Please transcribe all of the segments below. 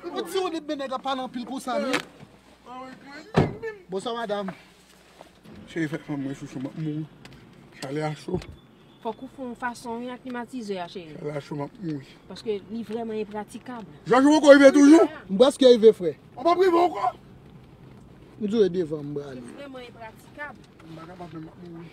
Mwen diw li bmen nèg la pale anpil konsa menm. Bonswa madam. Cheri fèk fanm mwen chouchou map mouri. Chale a cho. Fòk ou fon fason wi ak klimatizè a cheri. Chale a cho map mouri. Paske li vrèman enpratikab. Jòj ou poko rive toujou? M prèske rive frè. Ou pap rive ankò? M diw e devan m brale. Li vrèman enpratikab. M pa kapab menm map mouri.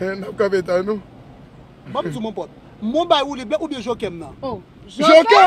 Hen nap kanpe tan nou. Banm diw mon pot. Mwen bay woulib la oubyen jokèm nan. Oh jokè.